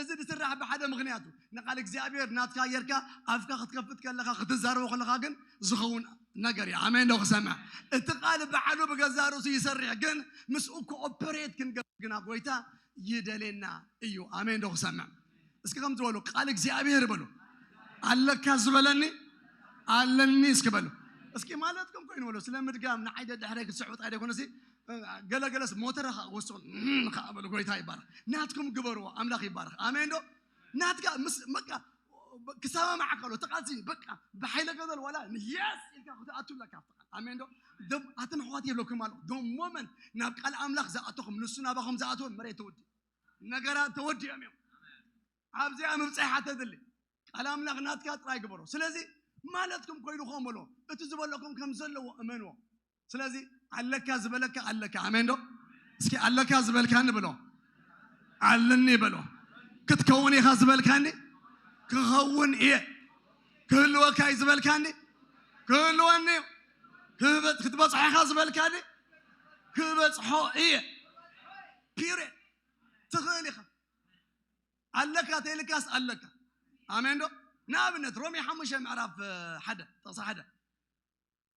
እዚ ዝስራሕ ብሓደ ምኽንያት እዩ። ንቃል እግዚኣብሔር ናትካ ጌርካ ኣፍካ ክትከፍት ከለኻ ክትዛረቦ ከለኻ ግን ዝኸውን ነገር እዩ። ኣሜን ዶ ክሰምዕ? እቲ ቃል ባዕሉ ብገዛእ ርእሱ ይሰርሕ፣ ግን ምስኡ ኮኦፐሬት ክንገብር ግና ጎይታ ይደሌና እዩ። ኣሜን ዶ ክሰምዕ? እስኪ ከምዚ በሉ፣ ቃል እግዚኣብሔር በሉ ኣለካ ዝበለኒ ኣለኒ እስኪ በሉ እስኪ ማለትኩም ኮይኑ በሉ ስለ ምድጋም ንዓይ ደድሕረይ ክትስዕቡ ጣይ ደይኮነሲ ገለገለስ ሞተረ ከዓ ወስዶ ከዓ በሉ ጎይታ ይባረክ ናትኩም ግበርዎ ኣምላክ ይባረክ ኣሜን ዶ ናትካ ምስ በቃ ክሰማማዕ ከሎ ተቃልሲ በቃ ብሓይለ ገዘል ዋላ የስ ኢልካ ክትኣቱ ኣለካ ኣሜን ዶ ዶም ኣትን ኣሕዋት የብለኩም ኣሎ ዶም ሞመንት ናብ ቃል ኣምላክ ዝኣተኹም ንሱ ናባኹም ዝኣተወ መሬት ተወዲኡ ነገራት ተወዲኦም እዮም ኣብዚኣ ምብፃሕ ሓተትሊ ቃል ኣምላክ ናትካ ጥራይ ግበሮ ስለዚ ማለትኩም ኮይኑ ከም በሎ እቲ ዝበለኩም ከም ዘለዎ እመንዎ ስለዚ ኣለካ ዝበለካ ኣለካ ኣሜን ዶ እስኪ ኣለካ ዝበልካኒ ብሎ ኣለኒ በሎ ክትከውን ኢኻ ዝበልካኒ ክኸውን እየ ክህልወካ እዩ ዝበልካኒ ክህልወኒ እዩ ክህበ- ክትበፅሖ ኢኻ ዝበልካኒ ክበፅሖ እየ ፒሬ ትኽእል ኢኻ ኣለካ ተይልካስ ኣለካ ኣሜን ዶ ንኣብነት ሮሜ ሓሙሽተ ምዕራፍ እ፣ ሓደ ጥቕሲ ሓደ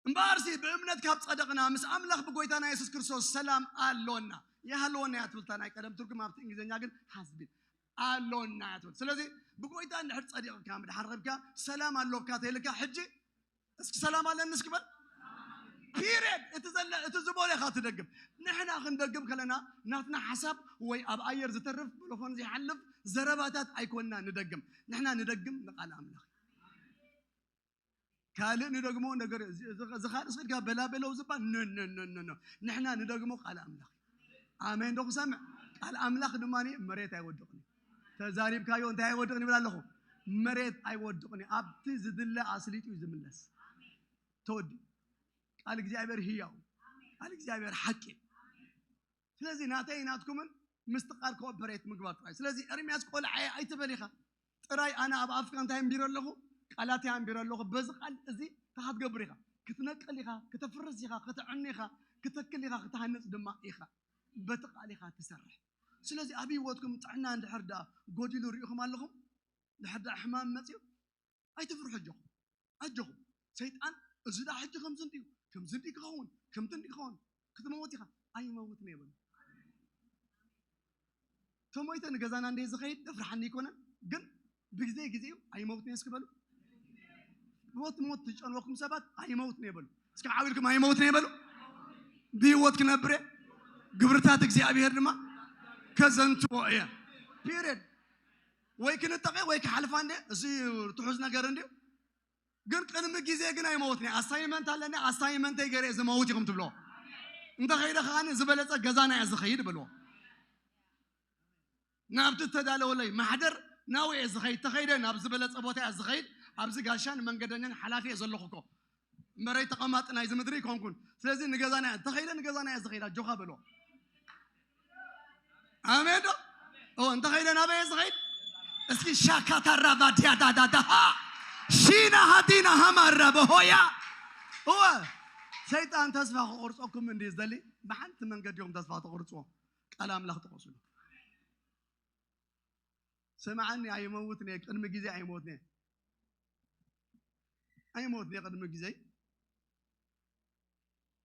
እምበኣርሲ ብእምነት ካብ ጸደቕና ምስ ኣምላኽ ብጎይታና የሱስ ክርስቶስ ሰላም ኣሎና። ይሃልወና እያ ትብልታ ናይ ቀደም ትርጉም ኣብቲ እንግሊዝኛ ግን ሃዝቢ ኣሎና እያ ትብል። ስለዚ ብጎይታ እንድሕር ጸዲቕካ ምድሓር ረብካ ሰላም ኣሎካ ተይልካ ሕጂ እስኪ ሰላም ኣለኒ እስኪ በል ፒሪድ እቲ ዘለ እቲ ዝበሎ ኢኻ ትደግም ንሕና ክንደግም ከለና ናትና ሓሳብ ወይ ኣብ ኣየር ዝተርፍ ብልኾን ዘይሓልፍ ዘረባታት ኣይኮንና ንደግም ንሕና ንደግም ንቃል ኣምላኽ ካልእ ንደግሞ ነገር እዚ ካልእ ስድካ በላበለው ዝባል ነነነነ ንሕና ንደግሞ ቃል ኣምላኽ ኣሜን ዶ ክሰምዕ ቃል ኣምላኽ ድማ መሬት ኣይወድቕን ተዛሪብካዮ እንታይ ኣይወድቕን ይብል ኣለኹ መሬት ኣይወድቕን ኣብቲ ዝድለ ኣስሊጡ እዩ ዝምለስ ተወዲ ቃል እግዚኣብሔር ህያው ቃል እግዚኣብሔር ሓቂ ስለዚ ናተይ ናትኩምን ምስትቃር ኮኦፐሬት ምግባር ጥራይ ስለዚ ኤርሚያስ ቆልዓየ ኣይትበል ኢኻ ጥራይ ኣነ ኣብ ኣፍካ እንታይ ኣንቢረ ኣለኹ ቃላተይ ኣንቢረ ኣለኹ በዚ ቃል እዚ እንታይ ክትገብር ኢኻ ክትነቅል ኢኻ ከተፍርስ ኢኻ ከተዕኒ ኢኻ ክተክል ኢኻ ክትሃንፅ ድማ ኢኻ በቲ ቃል ኢኻ ትሰርሕ ስለዚ ኣብ ህይወትኩም ጥዕና እንድሕር ደኣ ጎዲሉ ሪኢኹም ኣለኹም ድሕር ደኣ ሕማም መፅዩ ኣይትፍርሑ ኣጆኹም ኣጆኹም ሰይጣን እዚ ድኣ ሕጂ ከምዚ እንድዩ ከምዚ እንድዩ ክኸውን ከምቲ እንድዩ ክኸውን ክትመውት ኢኻ ኣይመውትን እየ በሉ ተሞይተ ንገዛና እንደ ዝኸይድ እፍርሓኒ ኣይኮነን ግን ብግዜ ግዜ እዩ ኣይመውትን እየ እስኪ በሉ ሞት ሞት ዝጨንወኩም ሰባት ኣይመውትን እየ በሉ እስኪ ዓው ኢልኩም ኣይመውትን እየ በሉ ብህይወት ክነብር እየ ግብርታት እግዚኣብሄር ድማ ከዘንትዎ እየ ፒሪድ ወይ ክንጠቐ ወይ ክሓልፋ እንደ እዚ ትሑዝ ነገር እንድዩ ግን ቅድሚ ግዜ ግን ኣይመወትኒ ኣሳይመንት ኣለኒ ኣሳይመንተይ ገሬ ዝመውት ኢኹም ትብሎ እንተኸይደ ከዓኒ ዝበለፀ ገዛና እየ ዝኸይድ በልዎ ናብቲ እተዳለወለይ ማሕደር ናብኡ እየ ዝኸይድ ተኸይደ ናብ ዝበለፀ ቦታ እያ ዝኸይድ ኣብዚ ጋሻን መንገደኛን ሓላፊ እየ ዘለኹ እኮ መሬት ተቐማጢ ናይዚ ምድሪ ኣይኮንኩን። ስለዚ ንገዛና እያ እንተኸይደ ንገዛና እያ ዝኸይዳ ጆኻ በሎ። ኣሜን ዶ እዎ እንተኸይደ ናበየ ዝኸይድ እስኪ ሻካታራ ባድያ ዳዳዳሃ ሺና ሃዲና ሃማራ በሆያ እወ ሰይጣን ተስፋ ክቆርፀኩም እንዲ ዝደሊ ብሓንቲ መንገዲ እዮም ተስፋ ተቆርፅዎ ቃል ኣምላኽ ተቆስሉ ስምዓኒ ኣይመውትን እየ ቅድሚ ግዜ ኣይሞትን እየ ኣይሞትን እየ ቅድሚ ግዘይ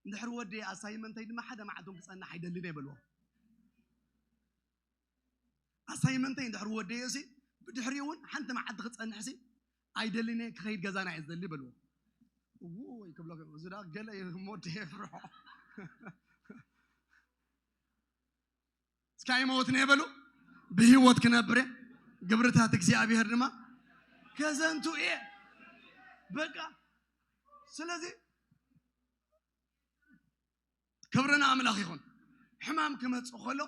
እንድሕር ወዲ ኣሳይመንተይ ድማ ሓደ መዓልቶም ክፀንሕ ኣይደልን እየ በልዎ ኣሳይመንተይ እንድሕር ወደዮ ሲ ብድሕሪ እውን ሓንቲ መዓልቲ ክፀንሕ ሲ ኣይደልን እየ ክኸይድ ገዛና እየ ዝደሊ በልዎ እውይ ክብሎ እዚ ዳ ገለ እዩ ሞድ የፍርሖ እስኪ ኣይመወትነ የበሉ ብህይወት ክነብር እየ ግብርታት እግዚኣብሔር ድማ ከዘንቱ እየ በቃ ስለዚ ክብርና ኣምላኽ ይኹን ሕማም ክመፅእ ከሎ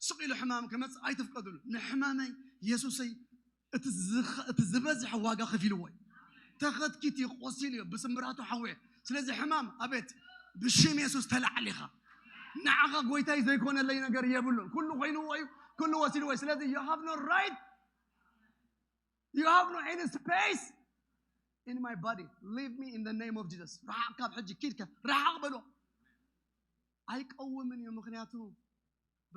ስቕ ኢሉ ሕማም ክመፅእ ኣይትፍቀድሉ ንሕማመይ የሱሰይ እቲ ዝበዝሐ ዋጋ ከፊልዎ እዩ ተኸትኪት እዩ ቆሲሉ እዩ ብስምብራቱ ሓወየ ስለዚ ሕማም ኣቤት ብሽም የሱስ ተላዕል ኢኻ ንዓኻ ጎይታይ ዘይኮነለይ ነገር የብሉን ኩሉ ኮይንዎ እዩ ኩሉ ወሲድዎ እዩ ስለዚ ዩ ሃቭ ኖ ራይት ዩ ሃቭ ኖ ኤኒ ስፔስ ኢን ማይ ባዲ ሊቭ ሚ ኢን ኔም ኦፍ ጂሰስ ርሓቕ ካብ ሕጂ ኪድካ ርሓቕ በሎ ኣይቀውምን እዩ ምክንያቱ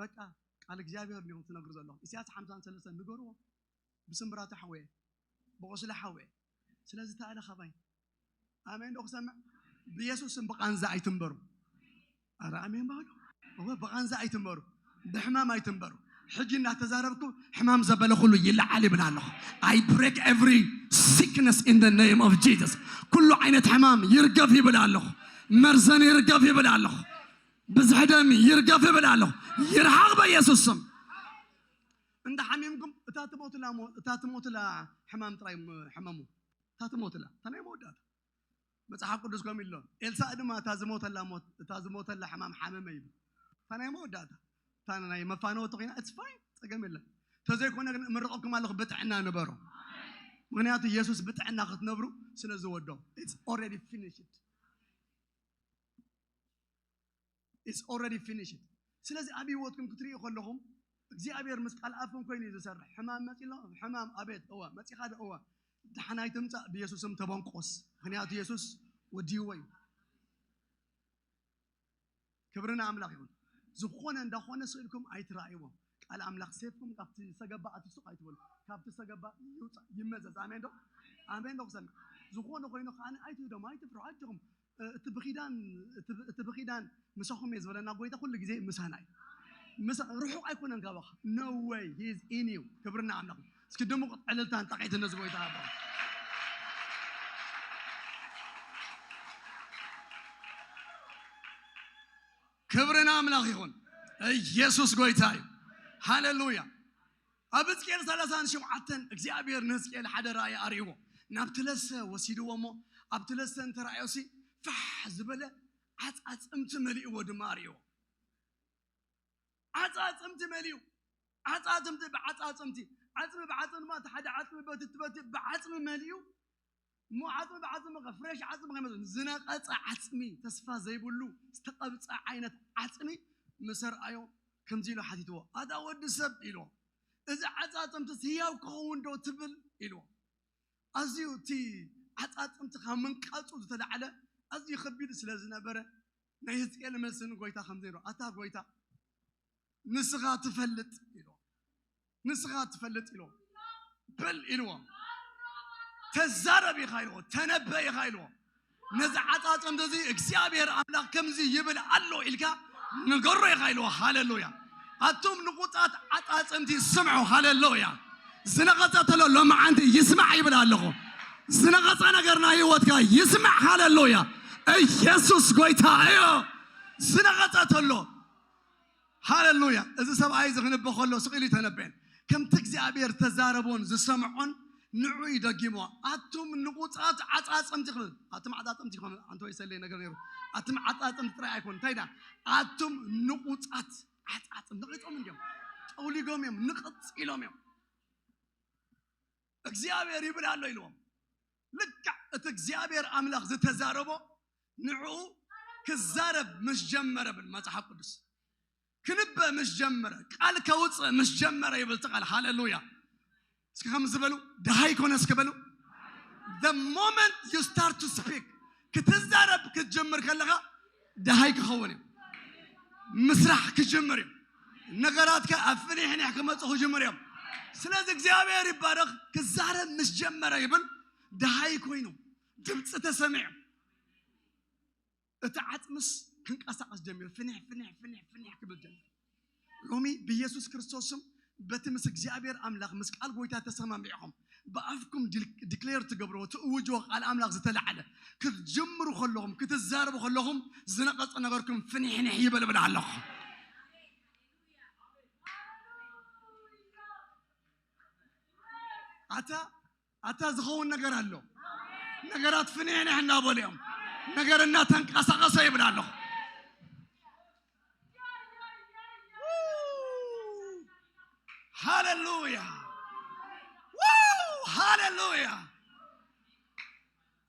በቃ ቃል እግዚኣብሔር እንዲኹም ትነግሩ ዘለኹም ኢሳያስ ሓምሳን ሰለስተን ንገርዎ ብስምብራቱ ሓወየ ብቑስሊ ሓወየ ስለዚ ተኣለ ካባይ ኣሜን ዶ ክሰምዕ ብየሱስም ብቃንዛ ኣይትንበሩ ኣረ ኣሜን ባሉ እወ ብቃንዛ ኣይትንበሩ ብሕማም ኣይትንበሩ ሕጂ እናተዛረብኩ ሕማም ዘበለ ኩሉ ይለዓል ይብል ኣለኹ ኣይ ብሬክ ኤቭሪ ሲክነስ ኢን ደ ኔም ኦፍ ጂሰስ ኩሉ ዓይነት ሕማም ይርገፍ ይብል ኣለኹ መርዘን ይርገፍ ይብል ኣለኹ ብዝሒ ደም ይርገፍ ይብል ኣሎ ይርሓቕ በኢየሱስ ስም እንዳ ሓሚምኩም እታ ትሞትላ እታ ትሞትላ ሕማም ጥራይ ሕመሙ እታ ትሞትላ እታ ናይ መወዳእታ መጽሓፍ ቅዱስ ከምኡ ኢሎ ኤልሳእ ድማ እታ ዝሞተላ ሞት እታ ዝሞተላ ሕማም ሓመመ ኢሉ እታ ናይ መወዳእታ እታ ናይ መፋነወቲ ኮይና እትስ ፋይን ጸገም የለን ተዘይኮነ ግን እምርቐኩም ኣለኹ ብጥዕና ንበሩ ምክንያቱ ኢየሱስ ብጥዕና ክትነብሩ ስለ ዝወዶ ኢትስ ኦልሬዲ ፊኒሽድ ኢትስ ኦልሬዲ ፊኒሽድ። ስለዚ ኣብ ህይወትኩም ክትሪኡ ከለኹም እግዚኣብሔር ምስ ቃል ኣፍኩም ኮይኑ እዩ ዝሰርሕ። ሕማም መፂ ኣሎ ሕማም ኣቤት እወ መፂኻ ዶ እወ ዳሕና ኣይትምፃእ ብየሱስም ተበንቆስ ምክንያቱ የሱስ ወዲይዎ እዩ። ክብሪ ንኣምላኽ ይኹን። ዝኾነ እንዳኾነ ስእልኩም ኣይትረኣይዎ። ቃል ኣምላኽ ሴፍኩም ካብቲ ዝተገባ ኣትሱቕ ኣይትበሉ። ካብቲ ዝተገባ ይውፃእ ይመዘዝ። ኣሜን ዶ ኣሜን ዶ ክሰምዕ ዝኾነ ኮይኑ ከዓነ ኣይትህደሙ ኣይትፍርሑ ኣጆኹም እቲ ብኪዳን እቲ ብኪዳን ምሳኹም እየ ዝበለና ጎይታ ኩሉ ግዜ ምሳና እዩ። ምሳ ርሑቕ ኣይኮነን ካባኻ no way he is in you ክብሪ ንኣምላኽ እዩ። እስኪ ድሙቕ ዕልልታን ጣቂትን ነዚ ጎይታ ሃቦ። ክብሪ ንኣምላኽ ይኹን። ኢየሱስ ጎይታ እዩ። ሃሌሉያ ኣብ ህዝቅኤል ሰላሳን ሸውዓተን እግዚኣብሔር ንህዝቅኤል ሓደ ራእይ ኣርእይዎ ናብቲ ለሰ ወሲድዎ እሞ ኣብቲ ለሰ እንተረኣዮሲ ፋሕ ዝበለ ዓፃፅምቲ መሊእዎ ድማ ኣርእይዎ ዓፃፅምቲ መሊኡ ዓፃፅምቲ ብዓፃፅምቲ ዓፅሚ ብዓፅሚ ድማ እቲ ሓደ ዓፅሚ በቲ በቲ ብዓፅሚ መሊኡ እሞ ዓፅሚ ብዓፅሚ ከ ፍሬሽ ዓፅሚ ከይመስል ዝነቐፀ ዓፅሚ ተስፋ ዘይብሉ ዝተቐብፀ ዓይነት ዓፅሚ ምስ ኣርኣዮ ከምዚ ኢሉ ሓቲትዎ ኣታ ወዲ ሰብ ኢልዎ እዚ ዓፃፅምትስ ህያው ክኸውን ዶ ትብል ኢልዎ ኣዝዩ እቲ ዓፃፅምቲ ካብ ምንቃፁ ዝተላዕለ ኣዝዩ ከቢድ ስለ ዝነበረ ናይ ህዝቅኤል መልሲ ንጎይታ ከምዚ ኢልዎ ኣታ ጎይታ ንስኻ ትፈልጥ ኢልዎም ንስኻ ትፈልጥ ኢልዎም በል ኢልዎም ተዛረብ ኢኻ ኢልዎ ተነበ ኢኻ ኢልዎ ነዚ ዓፃፅም እዚ እግዚኣብሔር ኣምላኽ ከምዚ ይብል ኣሎ ኢልካ ንገሮ ኢኻ ኢልዎ ሃለሉያ ኣቱም ንቁፃት ዓፃፅምቲ ስምዑ ሃለሉያ ዝነቐፀ ተሎ ሎመዓንቲ ይስማዕ ይብል ኣለኹ ዝነቐፀ ነገር ናይ ህይወትካ ይስማዕ ሃለሉያ ኢየሱስ ጎይታ እዩ ዝነቐፀ ተሎ ሃለሉያ! እዚ ሰብኣይ እዚ ክንበ ከሎ ስቕ ኢሉ እዩ ተነበየን። ከምቲ እግዚኣብሄር ዝተዛረቦን ዝሰምዖን ንዕኡ እዩ ደጊምዎ። ኣቱም ንቑጻት ዓጻጽምቲ ክብል ኣቱም ዓጻጽምቲ ክብል ኣንተ ወይ ሰለየ ነገር ነይሩ። ኣቱም ዓጻጽምቲ ጥራይ ኣይኮን እንታይ ዳ ኣቱም ንቑጻት ዓጻጽም ነቒጾም እንዲዮም ጠውሊጎም እዮም ንቕጽ ኢሎም እዮም እግዚኣብሔር ይብል ኣሎ ኢልዎም ልክዕ እቲ እግዚኣብሔር ኣምላኽ ዝተዛረቦ ንዕኡ ክዛረብ ምስ ጀመረ ብል መጽሓፍ ቅዱስ ክንበ ምስ ጀመረ ቃል ከውፅእ ምስ ጀመረ ይብል እቲ ቃል ሃሌሉያ እስኪ ከም ዝበሉ ድሃይ ኮነ እስኪ በሉ the moment you start to speak ክትዛረብ ክትጅምር ከለኻ ደሃይ ክኸውን እዩ። ምስራሕ ክጅምር እዩ። ነገራትካ ኣብ ፍኒሕኒሕ ክመፁ ክጅምር እዮም። ስለዚ እግዚኣብሔር ይባረኽ ክዛረብ ምስ ጀመረ ይብል ደሃይ ኮይኑ ድምፂ ተሰሚዑ እቲ ዓፅምስ ክንቀሳቀስ ጀሚሩ ፍኒሕ ፍኒሕ ፍኒሕ ፍኒሕ ክብል ጀሚሩ ሎሚ ብኢየሱስ ክርስቶስ ስም በቲ ምስ እግዚኣብሔር ኣምላኽ ምስ ቃል ጎይታ ተሰማሚዕኹም ብኣፍኩም ዲክሌር ትገብርዎ ትእውጅዎ ቃል ኣምላኽ ዝተላዕለ ክትጅምሩ ከለኹም ክትዛረቡ ከለኹም ዝነቐጸ ነገርኩም ፍንሕንሕ ይበል እብል ኣለኹ ኣታ ኣታ ዝኸውን ነገር ኣሎ ነገራት ፍንሕንሕ እናበሉ እዮም ነገር እናተንቀሳቐሰ ይብል ኣለኹ ሃሌሉያ ዋው ሃሌሉያ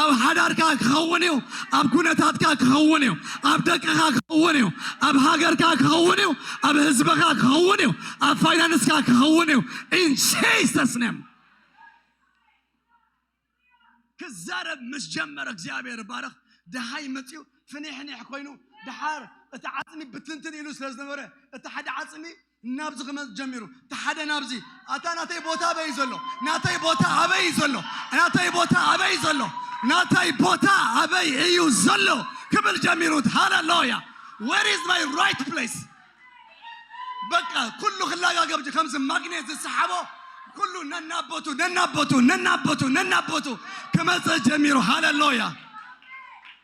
ኣብ ሓዳርካ ክኸውን እዩ ኣብ ኩነታትካ ክኸውን እዩ ኣብ ደቅኻ ክኸውን እዩ ኣብ ሃገርካ ክኸውን እዩ ኣብ ህዝብኻ ክኸውን እዩ ኣብ ፋይናንስካ ክኸውን እዩ ኢን ጂሰስ ኔም ክዛረብ ምስ ጀመረ እግዚኣብሔር ባረኽ ድሃይ መፅኡ ፍኒሕኒሕ ኮይኑ ድሓር እቲ ዓፅሚ ብትንትን ኢሉ ስለ ዝነበረ እቲ ሓደ ዓፅሚ ናብዚ ክመጽ ጀሚሩ እቲ ሓደ ናብዚ ኣታ ናተይ ቦታ ኣበይ ዘሎ ናተይ ቦታ ኣበይ ዘሎ ናተይ ቦታ ኣበይ ዘሎ ናተይ ቦታ ኣበይ እዩ ዘሎ ክብል ጀሚሩ ሃለሎያ ዌር ኢዝ ማይ ራይት ፕሌስ በቃ ኩሉ ክላጋገብ ከምዚ ማግኔት ዝሰሓቦ ኩሉ ነናቦቱ ነናቦቱ ነናቦቱ ነናቦቱ ክመጽእ ጀሚሩ ሃለሎያ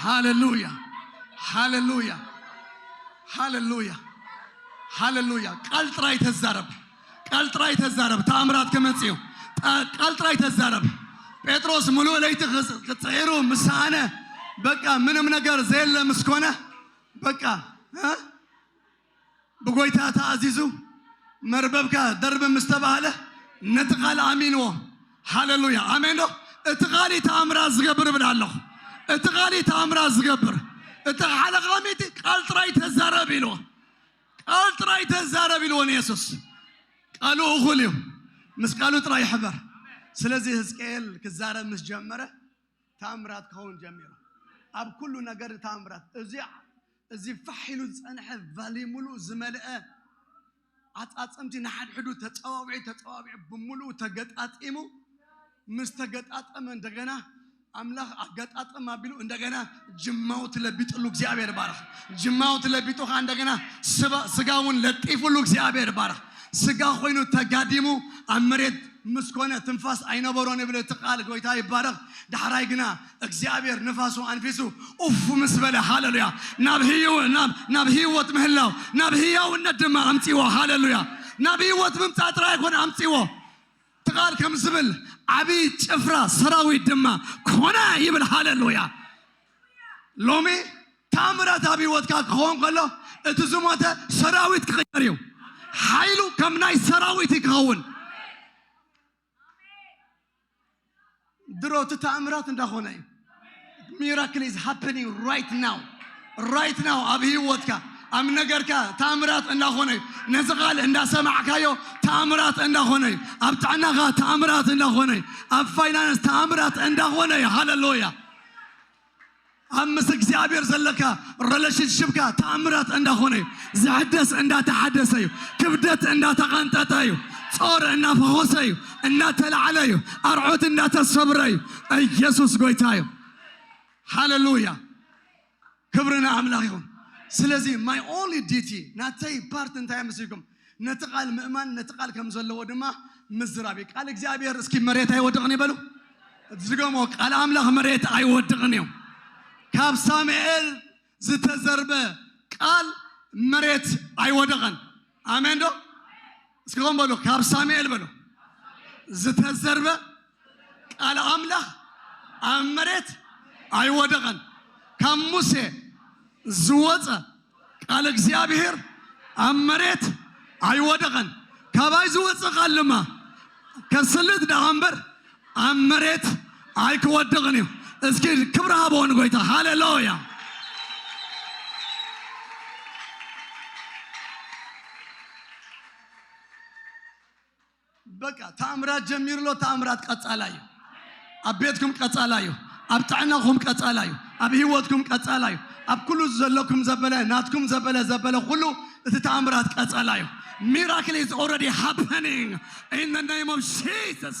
ሃሌሉያ ሃሌሉያ ሃሌሉያ ሃሌሉያ ቃል ጥራይ ተዛረብ ቃል ጥራይ ተዛረብ ተኣምራት ክመጽእ እዩ ጣ- ቃል ጥራይ ተዛረብ ጴጥሮስ ምሉእ ለይቲ ክጽ- ክጽዒሩ ምስ ሰኣነ በቃ ምንም ነገር ዘየለ ምስ ኮነ በቃ እ? ብጎይታ ተኣዚዙ መርበብካ ደርብ ምስ ተባህለ ነቲ ቃል ኣሚንዎ ሃለሉያ ኣሜን ዶ እቲ ቃል እዩ ተኣምራት ዝገብር እብል ኣለኹ እቲ ቃል እዩ ተኣምራት ዝገብር እቲ ሓለቓ ሚእቲ ቃል ጥራይ ተዛረብ ኢልዎ ቃል ጥራይ ተዛረብ ኢልዎ ንየሱስ ቃሉ እኹል እዩ ምስ ቃሉ ጥራይ ሕበር ስለዚ ህዝቅኤል ክዛረብ ምስ ጀመረ ተኣምራት ክኸውን ጀሚሩ ኣብ ኩሉ ነገር ተኣምራት እዚ እዚ ፋሕ ኢሉ ዝጸንሐ ቫሊ ምሉእ ዝመልአ ዓጻጽምቲ ንሓድሕዱ ተጸዋዊዑ ተጸዋዊዑ ብምሉኡ ተገጣጢሙ ምስ ተገጣጠመ እንደገና ኣምላኽ ኣገጣጠም ኣቢሉ እንደገና ጅማው ትለቢጥሉ እግዚኣብሔር ባረኽ ጅማው ትለቢጡኻ እንደገና ስጋውን ለጢፉሉ እግዚኣብሔር ባረኽ ስጋ ኮይኑ ተጋዲሙ ኣብ መሬት ምስ ኮነ ትንፋስ ኣይነበሮን ይብል እቲ ቃል ጎይታ ይባረኽ ዳሕራይ ግና እግዚኣብሔር ንፋሱ ኣንፊሱ ኡፍ ምስ በለ ሃለሉያ ናብ ህይወ ናብ ናብ ህይወት ምህላው ናብ ህያውነት ድማ ኣምጺዎ ሃለሉያ ናብ ህይወት ምምጻእ ጥራይ ኣይኮነ ኣምጺዎ እቲ ቃል ከም ዝብል ዓቢ ጭፍራ ሰራዊት ድማ ኮነ ይብል ሃለሉያ ሎሚ ታምራት ኣብ ህይወትካ ክኸውን ከሎ እቲ ዝሞተ ሰራዊት ክቕየር እዩ። ሓይሉ ከም ናይ ሰራዊት እዩ ክኸውን። ድሮ እቲ ተኣምራት እንዳኾነ እዩ። ሚራክል ኢዝ ሃፕኒንግ ራይት ናው ራይት ናው ኣብ ህይወትካ ኣብ ነገርካ ተኣምራት እንዳኾነ እዩ። ነዚ ቃል እንዳሰማዕካዮ ተኣምራት እንዳኾነ እዩ። ኣብ ጥዕናኻ ተኣምራት እንዳኾነ እዩ። ኣብ ፋይናንስ ተኣምራት እንዳኾነ እዩ። ሃለሉያ ኣብ ምስ እግዚኣብሔር ዘለካ ረለሽንሽፕካ ተኣምራት እንዳኾነ እዩ ዝሕደስ እንዳተሓደሰ እዩ ክብደት እንዳተቐንጠጠ እዩ ጾር እናፈኾሰ እዩ እናተላዕለ እዩ ኣርዖት እንዳተሰብረ እዩ ኢየሱስ ጎይታ እዩ ሃሌሉያ ክብሪ ንኣምላኽ ይኹን ስለዚ ማይ ኦንሊ ዲቲ ናተይ ፓርት እንታይ ምስልኩም ነቲ ቃል ምእማን ነቲ ቃል ከም ዘለዎ ድማ ምዝራብ እዩ። ቃል እግዚኣብሔር እስኪ መሬት ኣይወድቕን ይበሉ። ዝገሞ ቃል ኣምላኽ መሬት ኣይወድቕን እዩ። ካብ ሳሙኤል ዝተዘርበ ቃል መሬት ኣይወደቐን። ኣሜን ዶ እስኪ ከም በሉ ካብ ሳሙኤል በሉ ዝተዘርበ ቃል ኣምላኽ ኣብ መሬት ኣይወደቐን። ካብ ሙሴ ዝወጸ ቃል እግዚኣብሔር ኣብ መሬት ኣይወደቐን። ካባይ ዝወጸ ቃል ድማ ከስልጥ ደኣ እምበር ኣብ መሬት ኣይክወድቕን እዩ። እስኪ ክብሪ ሃቦ ንጎይታ። ሃሌሉያ! በቃ ተኣምራት ጀሚሩ ኣሎ ተኣምራት ቀጻላ እዩ ኣብ ቤትኩም ቀጻላ እዩ ኣብ ጥዕናኹም ቀጻላ እዩ ኣብ ህይወትኩም ቀጻላ እዩ ኣብ ኩሉ ዘለኩም ዘበለ ናትኩም ዘበለ ዘበለ ኩሉ እቲ ተኣምራት ቀጻላ እዩ ሚራክል ኢዝ ኦልሬዲ ሃፐኒንግ ኢን ዘ ኔም ኦፍ ጂሰስ